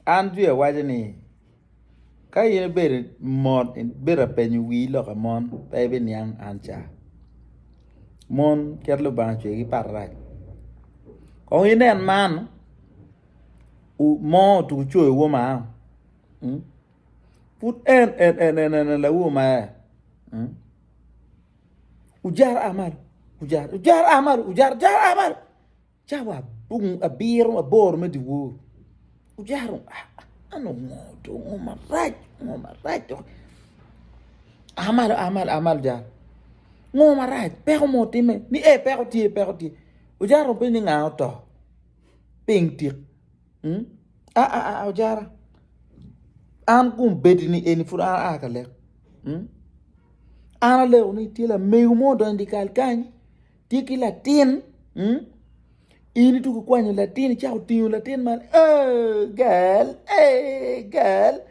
An jwi awaco ni ka in ibedo mot ibedo ka penyo wii loka mon pe ibiniang an ca mon kit Lubanga ocweyogi pat pat kong inen man mo otugo coyo woma pud en enene lawoma ojara a malo ojara a malo. Cawa abiro aboro me dyewor ojaro an ongo do ongo marac ongo marac dok a malo a malo a malo jalo ngo marac peko mo timme ni ee peko tye peko tye ojaro openyo ni nga oto ping tik aa ojara an kum bedi ni eni pud an aa ka lek an aleko ni tye lamego mo odonyo idikal kany. Tye ki latin mm? In ituko kwanyo latin icako tingo latin man eh, gal eh, gal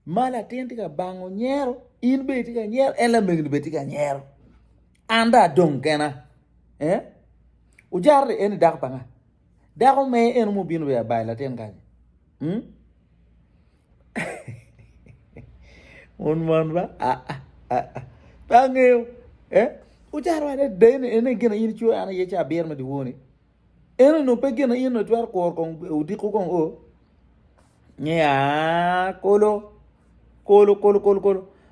ma latin tye ka bango nyero in bene itye ka nyero en lamegoni bene tye ka nyero an dong adong kena eh? Ojara en ni dako pa nga? Dako me en mubino bene abayo latin kany mm? Mon man ba pe angeyo eh ocaro wada adada ene ene gin aye in icoyo an aye ca abiro me dyewo ni ene onongo pe gin aye onongo itwero kuro kong odiko kong o nge aa kolo kolo kolo kolo kolo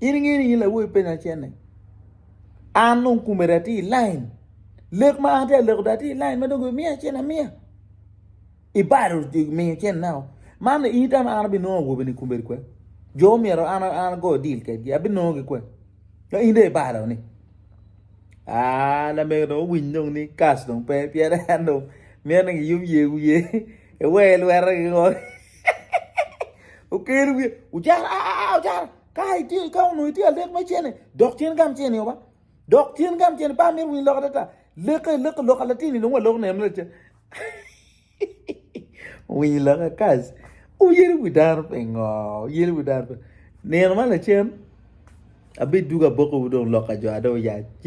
In ingeyo ni in lawobi pe nacene. An dong kumere atye i lain. Lek ma an atye aleko dong atye i lain ma dong gimiya cen amiya. Ibalo miyo cen nao. Man in itam an abinongo awobe ni kumere kwe. Jo myero an an ago deal kedgi. Abinongo gi kwe. Ka in de ibalo ni. Ah, lamego dong owiny dong ni kas dong pe. Pien en dong mine gi yom ye wiye. Ewe lwera gi ngor. Okelo wiye, ojara, aa, ah, ah, ah, ojara, ka itye, ka onongo itye alek me cene, dok cen gam cene oba. Dok cen gam cene, pa mir winy lok adada. Leke, leke, lok alatini, longo alok ne mere ca. Winy lok akas. Uyeli wi dano pe ngo, uyeli wi dano pe. Nino ma lacen, abi duga boko dong lok ajo adong yac.